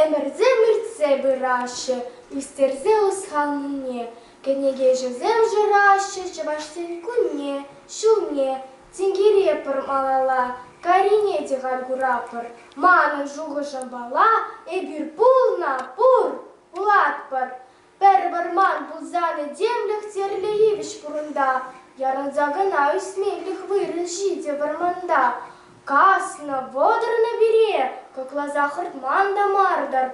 Ӗмӗрте-мӗртсе пыраҫҫӗ ӳстерсе ӑсханнине, кӗнекеҫӗсем шыраҫҫӗ Чӑвашсен кунне, ҫулне. Тинкере пӗр малалла, карине те халь куратпӑр. Манӑн шухӑшӑм пала, эпир пулнӑ, пур, пулатпӑр. Пӗр вӑрман пулсанӗ темлӗх тӗрлӗ йывӑҫ пурӑнта. Ярӑнса кӑна ӳсмелӗх вырӑн ҫитӗ вӑрманта. Каснӑ, вӑтӑрнӑ пире, кӑкласа хӑртман та мар-тӑр.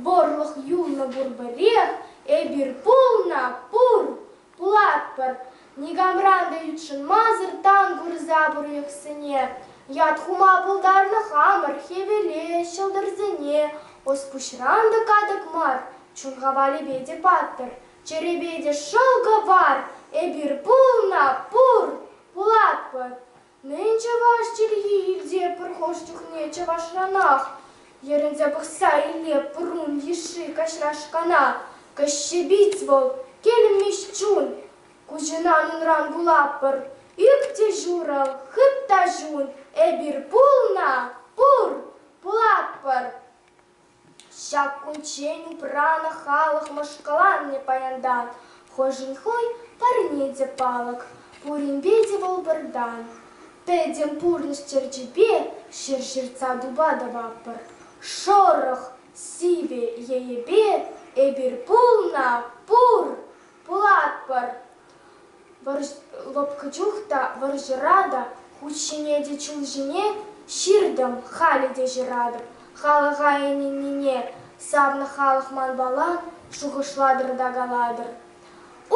Вӑрлӑх юлнӑ пур пӗрех, эпир пулнӑ, пур! Пулатпӑр, никамран та ютшӑнмасӑр тан курса пурлӑхсене. Ят хума пултарнӑ хамӑр хӗвеле, ҫӑлтӑрсене. Ӑс-пуҫран та катӑк мар, чун хавалӗпе те паттӑр, чӗрепе те шӑлкӑ вар. Эпир пулна пур, пулатпӑр. Мӗн чӑваш чӗлхи илте пӗр хӑш чухне чӑвашранах? Йӗрӗнсе пӑхса иле пуррун йышши каҫрашкана. Каҫҫепиц вӑл, килмӗҫ чун. Куҫӑнан унран вулатпӑр. Ӳк те шурӑ, хыт та ҫун, эпир пулна, пур, пулатпӑр. Ҫак кунччен упранӑ халӑх мӑшкӑланнӑ паянтан. Хӑшӗн хӑй парне те палӑк, пуринпе те вӑл пӗртан. Пӗтӗм пурнӑҫ черчипе ҫӗр ҫыртса тупатӑпӑр. Шӑрӑх сивӗ енӗпе эпир пулна пур, Пулатпӑр. лӑпкӑ чух та, вӑрҫӑра та, хут ҫине те, чул ҫине ҫыртӑм. Халӗ те ҫыратӑп халӑха ӗненнине. Савнӑ халӑх манпала шухӑшлатӑр та калатӑр.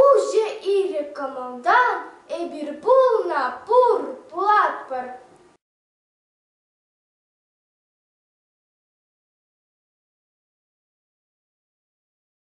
Уҫӑ ирӗк кӑмӑлтан эпир пулнӑ пур, пулатпӑр.